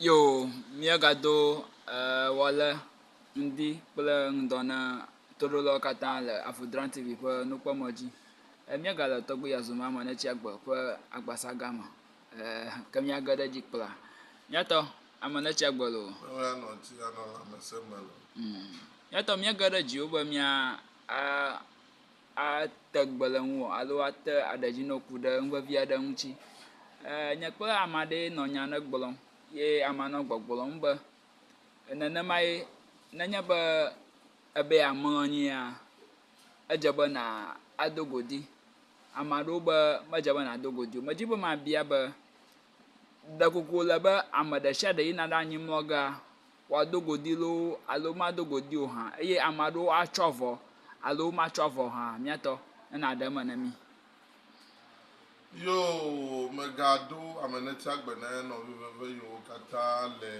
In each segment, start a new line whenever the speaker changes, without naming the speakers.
Yoo, míegado Ewɔle ŋdi kple ŋdɔ na toɖolawo katã le Avudrani TV ƒe nukpɔmɔ̃ dzi. Míegale tɔgbi ya zɔmɔ ame netsi agbe ƒe agbasa gã me ɛɛ ke míage ɖe edzi kpla. Míatɔ, ame netsi agbe loo. Míatɔ, míege ɖe edzi be míaa aa. ate gbe le ŋuwò alo ate aɖedzinoku ɖe nu vevi aɖe ŋuti. Ee, nye kple ame aɖee nɔ nya aɖe gblɔm ye amea nɔ gbɔgblɔm be nenemae nenye be ebe yeamlɔ anyia, edze be nàdo go ɖi. Ame aɖewo be medze be nàdo go ɖi o. Medi be mabia be, ɖeko wòle be ame ɖe sia ɖe yina ɖe anyimlɔgea? wòado godi loo alo mado godi o hã eye ame aɖewo atsɔ avɔ alo womatsɔ avɔ o hã míatɔ ne nàɖe eme na mí. Yoo megaɖo ame netia gbe ne nɔvi veve yiwo katã le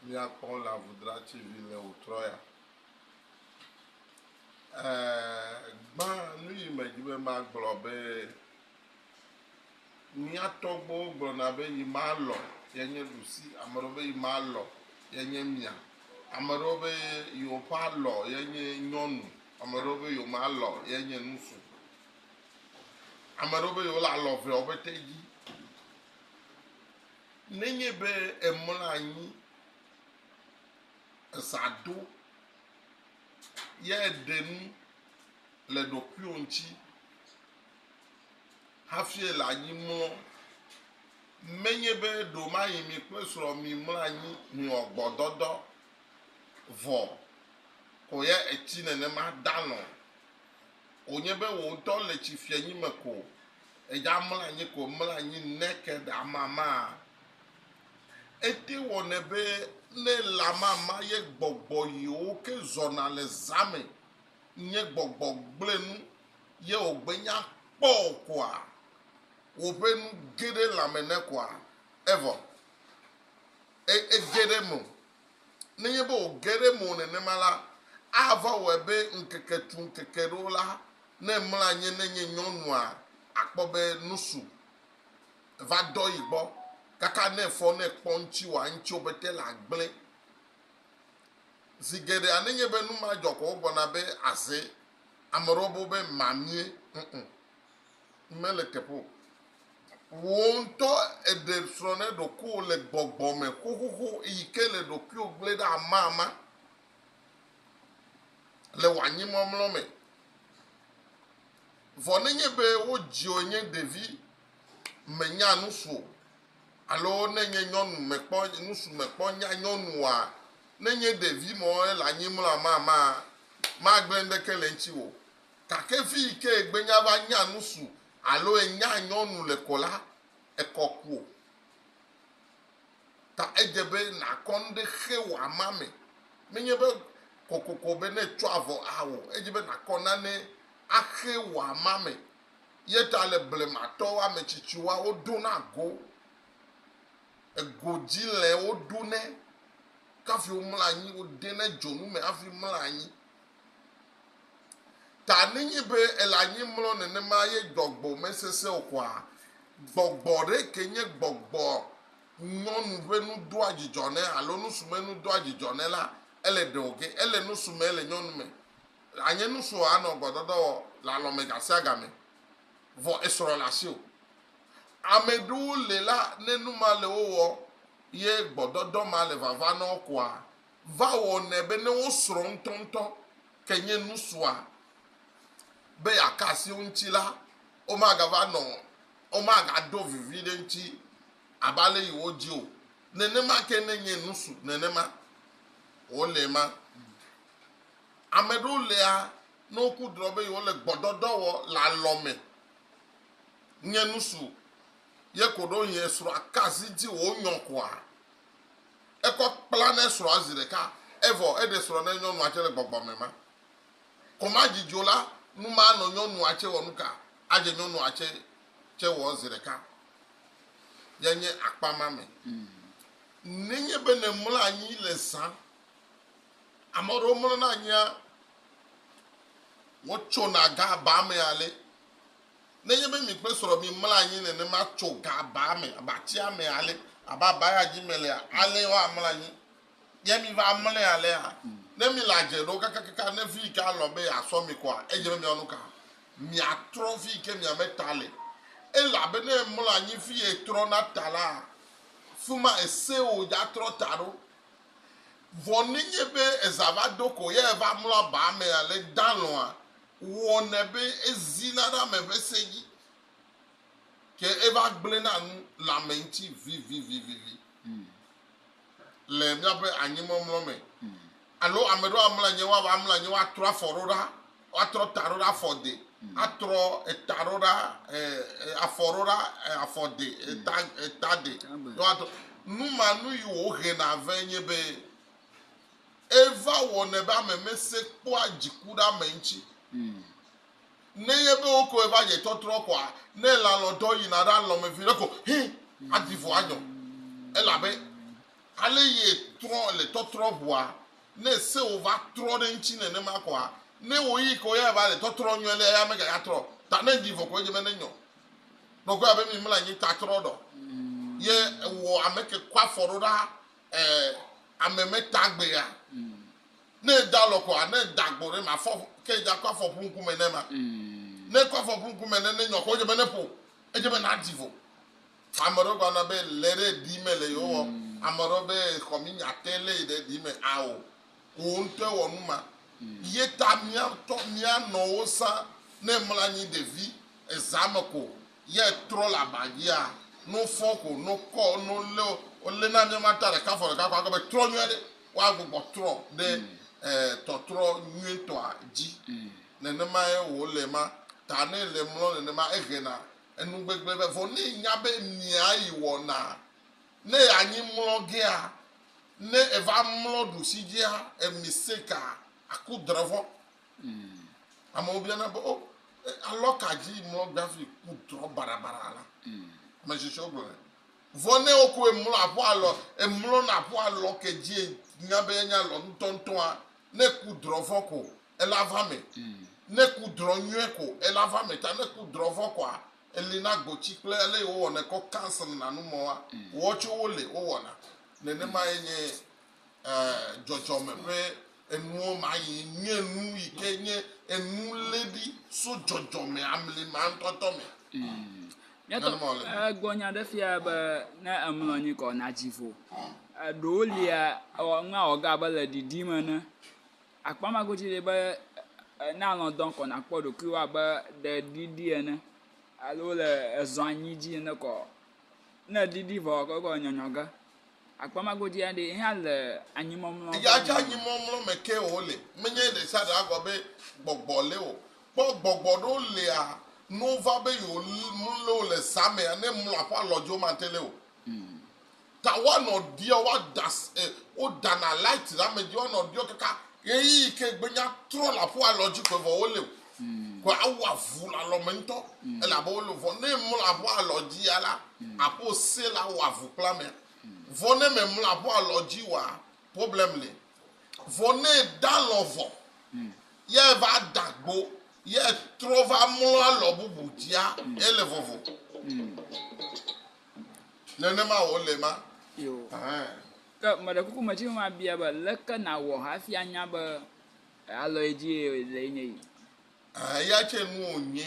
mía kpɔm le avudrati vi le o trɔ ya. Ɛɛ, gbã nuyi medzi be magblɔ be Mía tɔgbuiwo gblɔna be yi ma lɔ ye nye ɖusi, ame aɖewo be yi ma lɔ ye nye mia, ame aɖewo be yewo ƒe alɔ ye nye nyɔnu, ame aɖewo be yewo ma lɔ ye nye nusu. Ame aɖewo be yewo le alɔ eveawo ƒe te dzi. Nenye be emlɔ anyi, eza do, ye eɖe nu le ɖokuiwò ŋuti. hafie le anyi mlɔ. Menye be ɖomaɣi mi kple srɔ̃ mimlɔ anyi miwɔ gbɔdɔdɔ vɔ ko ye etsi nenema dalɔ̃ o. Wònye be wò ŋutɔ le tsi fianyi me ko èdza mlɔ anyi ko mlɔ anyi naked amamaa. Ete wɔnɛ be ne le amama ye gbɔgbɔ yiwo ke zɔna le zã me nye gbɔgbɔ gblẽ nu ye wògbe nya kpɔ o koa? Wòƒe nu ge ɖe lãme ne koa? Evɔ e, ege ɖe eme o. Nenye be wòge ɖe eme o nenema la, ava wɔe be ŋkeke tu ŋkeke ɖo la, ne emlɔ anyi ne nye nyɔnua, akpɔ be nusu va dɔ yi gbɔ, kaka ne efɔ ne ekpɔ ŋtsiwòa, ŋtsiwo pete la gblẽ. Zi geɖea nenye be nu ma dzɔ ko wogbɔna be aze Ame ɖewo bɔ be mamie, ŋŋ, mele teƒe o. Wò ŋutɔ èɖe srɔ̃ ne ɖokuiwò le gbɔgbɔ me xoxoxo yi ke le ɖokuiwò gblẽ ɖe amama le wò anyimɔmlɔ me. Vɔ nenye be wodziwò nye ɖevi, mènya nu su o, Alo ne nye nyɔnu mekpɔ nusu mekpɔ nya nyɔnu wa, ne nye ɖevi mɔ ele anyi mla ma ma, magblẽ ŋɖeke le ŋtsi wo. Gake vi yi ke egbe nya va nya nusu alo enya nyɔnu le kɔ la, ekɔ kuo. Ta edze be nakɔ ŋɖe xe wo ama me. Menye be kɔkɔkɔ be ne etsɔ avɔ awo, edze be nakɔ nane axe wo ama me. Ye ta le blematɔwo ametsitsiwoa wodona go, egodzilẽ woɖunɛ, kafi womlɔa anyi, wodenɛ dzonu me hafi mlɔa anyi. Ta nenye be ele anyi mlɔ nenema ye gbɔgbɔ mesesẽ o koa, gbɔgbɔ ɖe ke nye gbɔgbɔ nyɔnu ƒe nu doa dzidzɔ nɛ alo nusume nu doa dzidzɔ nɛ la, ele ɖe wòge. Ele nusume le nyɔnu me, Le anye nusuɔ anɔ gbɔdɔdɔ wɔ le alɔ mɛ gasiagamɛ, vɔ esrɔ le asi o. Amɛɖewo le la ne numa le wo wɔ ye gbɔdɔdɔ ma le vava nɔ wo koa va wɔ nɛ be ne wo srɔ ŋtɔŋtɔ ke nye nusuɔ be ya ka asi wo ŋtsi la wo ma ga va nɔ wo ma ga do viviɖe ŋtsi abe ale yi wo dzi o. Nenema ke ne nye nusu nenema wo le ma. Ame ɖewo lia ne woku drɔ be yewole gbɔdɔdɔ wɔ le alɔ me. Nye nusu ye koɖo ŋyi esrɔa kasi dzi wò nyɔ koa? Ekɔ kpla ne srɔa zi ɖeka, evɔ eɖe srɔ ne nyɔnua tse le gbɔgbɔ me ma. Koma dzi dzo la, nu ma anɔ nyɔnua tse wɔ nuka? Adze nyɔnua tse tse wɔ zi ɖeka. Ye nye akpa ma me. Nenye be ne mlɔ anyi le zã. Ame aɖewo mlɔna anyia, wotsona gabaa me ale. Nenye be mi kple srɔ̃ miemlɔ anyi nenema tso gabaa me abe atia me ale, abe abaya dzi melea, alee woamlɔ anyi. Ye miva mlɔe alea, ne mile adze ɖo kakakaka ne fi yi ke alɔ̃ be yeasɔ mi koa, edze be miawɔ nu ka? Miatrɔ fi yi ke mia me ta le. Elabe ne èmlɔ anyi fi yi etrɔna ta laa, fi ma esẽo dzatrɔ ta ɖo. Vɔ nenye be eza va ɖo ko ye eva mlɔ abaa me ale dalɔ̃a wɔnɛ be ezina ɖe ame ƒe se dzi, ke eva gblẽna nu le ame ŋuti vivivivivi le míaƒe anyimɔmlɔ me. Alo ame ɖewo amlɔ anyi, woava mlɔ anyi, woatrɔ afɔ ɖo ɖa. Woatrɔ ta ɖo ɖe afɔ de. Atrɔ eta ɖo ɖa afɔ ɖo ɖa afɔ de eta eta de. Woatrɔ numanu yi wo hena vɛ nye be eva wɔnɛ be ame me se kpɔa dziku ɖe ame ŋtsi. Ne nye be wo kɔe va dze tɔtrɔ kɔa ne la lɔ dɔ yina ɖa lɔ me viɖe ko hi adi vo anyɔ. Elabe ale ye trɔ le tɔtrɔ ʋua Ne sewò va trɔ ɖe eŋuti nenema koa, ne ɣeyiɣi ke woyɔe va le tɔtrɔ nyuie lea, eya mega ya trɔ o. Ta ne ŋdi vɔ ko edze be ne nyɔ nɔkɔe abe mi mla nyi ta trɔ ɖɔ. Ye ewɔ ame ke kɔ afɔ ɖo ɖa e ame me ta gbe ya. Ne eda lɔ koa, ne eda gbɔ ɖe ma fɔ ke edza kɔ afɔ plu ŋkume ne ma. Ne kɔ afɔ plu ŋkume ne ne nyɔ ko edze be ne ƒo, edze be na di vɔ. Ame ɖewo gblɔna be le ɖe ɖi me le yewɔ, ame ɖewo be xɔ mi nya te le yi ɖe ɖi me ao. Wò ŋutɔe wɔ nu ma. Ye ta mía ŋutɔ mía nɔwo sã ne emlɔ anyi ɖevi eza me ko ye etrɔ le aba dzia, ne wofɔ ko, ne wokɔ, ne wolé wolé na mía mata ɖeka afɔ ɖeka ko agblɔ be trɔ nyuie ɖe woagbugbɔ trɔ ɖe tɔtrɔ nyuietɔa dzi. Nenemae wòle ma ta ne le mlɔ nenema ehe na enu gbegblẽ be vɔ ne nya be mia yi wɔna ne anyi mlɔ gea ne eva mlɔ ɖusi dzia emi seka aku drɔvɔ amewo bia na be o alɔ ka dzi mlɔ gbavi ku drɔ barabara la ame sisi wo gblɔ vɔ ne o ko emlɔ aƒo alɔ emlɔ na aƒo alɔ ke dzi nya be nya lɔ ŋutɔŋutɔa ne ku drɔvɔ ko ela va me. Ne ku drɔ nyuie ko ela va me ta ne ku drɔ vɔ kɔa eli na gbotsi kple ele yi wowɔnɛ kɔ cancel na nu mɔ wa wɔ tso wo le wowɔna nenema ye nye dzɔdzɔme ƒe enuwo ma yi nye nu yi ke nye enu le ɖi so dzɔdzɔme amli ma ŋtɔ tɔ me. Nyɔtɔ egbɔ nya ɖe fia be ne emlɔ anyi kɔ na dzi vo eɖewo lia ewɔ nua wɔ ga be le ɖiɖim ene. Akpɔ ema godzi ɖi be ne alɔ dɔm ko nàkpɔ ɖokuiwò abe ɖe eɖiɖi ene alo wole ezɔ anyi dzi ene ko ɔ, ne eɖiɖi vɔ ɔ, egɔ le nyɔnyɔ ge. Akpɔ ema godzi ɖi ye hã le anyimɔmlɔ ƒe nɔnɔme me. Eya anyimɔmlɔ me ke wòle. Menye ɖesiaɖe agblɔ be gbɔgbɔ li o. Kpɔ gbɔgbɔ ɖewo lia, ne wova be yewomlɔe wole zã mea, ne emlɔ aƒe alɔ dzi womate li o. Ta woanɔ ɖiɔ, woada e wodana light ɖe ame dzi woanɔ ɖiɔ kaka ɣeyiɣi ke gbenya trɔ le aƒu alɔ dzi koe vɔ wole o. Koe awu avu le alɔ me ŋutɔ elabe wole o. Vɔ ne emlɔ aƒu alɔ dzi ya la, aƒu ose la awɔ avu kple amea. Vɔ ne memlɔ aƒu alɔ dzi oa, problem li. Vɔ ne eda alɔ vɔ ye eva da gbo ye trɔ va mlɔ alɔ bubu dzia, ele vovo. Nenema wòle ma. Yo. Ahan. Ke meɖe kuku medi be mabia be, leke nàwɔ hafi anya be alɔ ye dzi eye lee nye yi? Ahan, eya tsɛ nu wònye.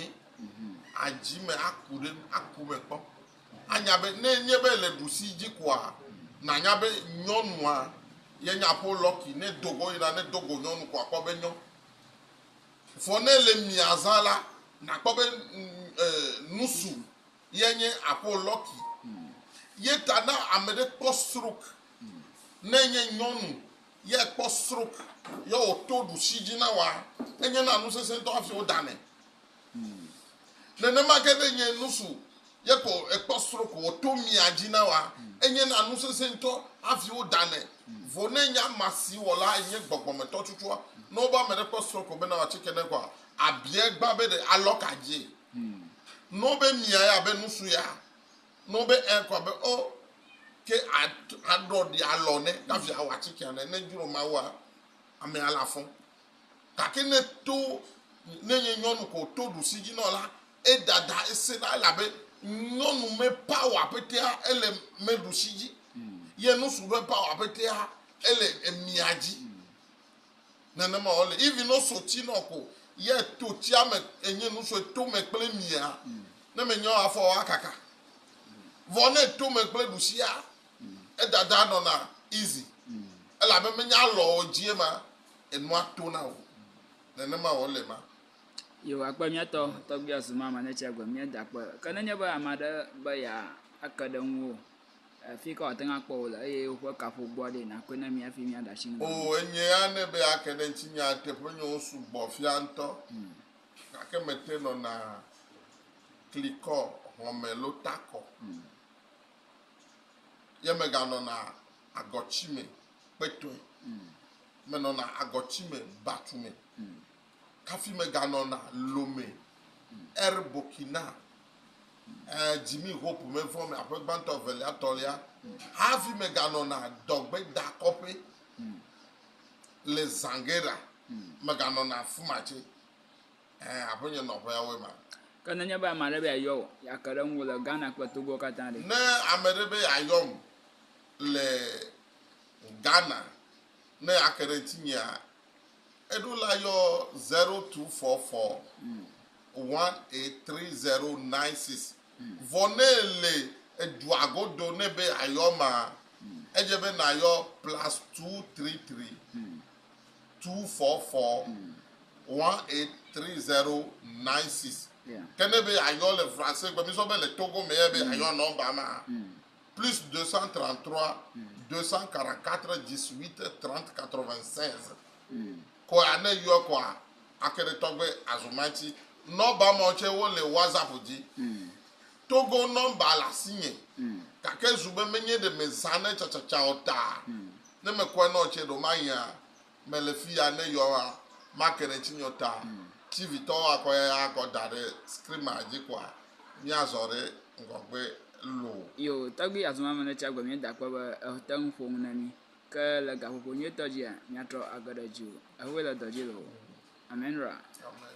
Adzi eme aku ɖe eme, aku eme kpɔ. Anya be ne enye be èle ɖusi dzi koa, nànya be nyɔnua ye nye Aƒo Lucky. Ne edo go yina, ne edo go nyɔnu ko àkpɔ be nyɔ. Vɔ ne ele mia zã la, nàkpɔ be nu su ye nye aƒo lɔki ye ta na ame ɖe kpɔ strok ne nye nyɔnu ye kpɔ strok ye o to ɖusi dzi na wa enye na nu sese ŋutɔ hafi wo da nɛ nenema ke ne nye nusu ye ko ekpɔ strok o to mia dzi na wa enye na nu sese ŋutɔ hafi wo da nɛ vo ne nya ma si wɔ la nye gbɔgbɔmetɔ tsutsua ne wo ba ame ɖe kpɔ strok o bena wa tsike ne kɔ abie gba be ɖe alɔka dzie. Hmm. No be mia ya be nusu ya. No be e kwa be o ke a a ɖɔ di a lɔ ne ka via wa ci kia ne ne juro ma wa ame ya la fɔ. Ka ke ne to ne nye nyɔnu ko to du si ji nɔ la e dada e se na la be nyɔnu me pawa petea ele me du si ji. Hmm. Ye nusu be pawa petea ele e mia ji. Hmm. Nenema wòle. Even ne woso tsi nɔ ko yɛ to tsia me enye nu sue to me kple mia, ne menya o afɔwo akaka. Vɔ ne eto me kple ɖusia, edada nɔna easy. Elabe menya alɔ o dzie ma, enua tona o. Nenema wòle ma. Yehowa kpe mía tɔ, tɔgbuia zumame ne tsia gbe mía da kpe. Ke nenye be ame aɖe be yeake ɖe ŋuwò. Afi ka wòate ŋu akpɔ wò le eye woƒe kaƒogoa ɖee nàkɔe na mí hafi míaɖe asi nu na wò. Oo, enye ya nɛ be ake ɖe ŋutinye ateƒenyowo sugbɔ fia ŋutɔ, gake mete nɔna klikɔ hɔ̃me lo takɔ ye meganɔna agɔtsi me kpetɔe. Menɔna agɔtsi me batu me hafi meganɔna Lome, Air Burkina, eh, Jimmy Hope mevɔ me aƒe gbãtɔ evelia tɔlia hafi meganɔna dɔgbedakɔƒe le Zangera meganɔna afi ma tse eh, aƒe nye nɔƒeawoe ma. Ke nenye be ame aɖe be yeayɔ wò, yeake ɖe ŋuwò le Ghana kple Togoa katã ɖe? Ne ame ɖe be yeayɔm le Ghana ne yeake ɖe ŋutinyea, Eɖo la yɔ 0244183096 vɔ ne èle edua godo nɛ be yeayɔ emea, edze be nàyɔ +23324418306. Ke ne be yeayɔ le Francegbe, mísɔ be le Togo me ye be yeayɔ nɔmba mea, plus 233 244 18 30 96 kɔa ne yɔ kɔa ake ɖe tɔgbe azumanti nɔmba mawo tsɛ wole whatsapp dzi togo nɔmba le asinye gake zu be menye ɖe mezãnɛ tsatsatsa o ta ne mekɔe nɔ tsɛ ɖo mahia mele fiya ne yɔa make ɖe tsi nyɔ ta tv tɔ wa kɔ ya kɔ da ɖe screen ma dzi kɔa mia zɔ ɖe ŋgɔgbe lo yo tɔgbi azuma me ne tsi agbe mi da kpɔ be ete ŋu ƒo ŋu ne mi ke le gaƒoƒo nyuie tɔ dzia mia trɔ age ɖe dzi o ehoe le dɔ dzi lo amen ra amen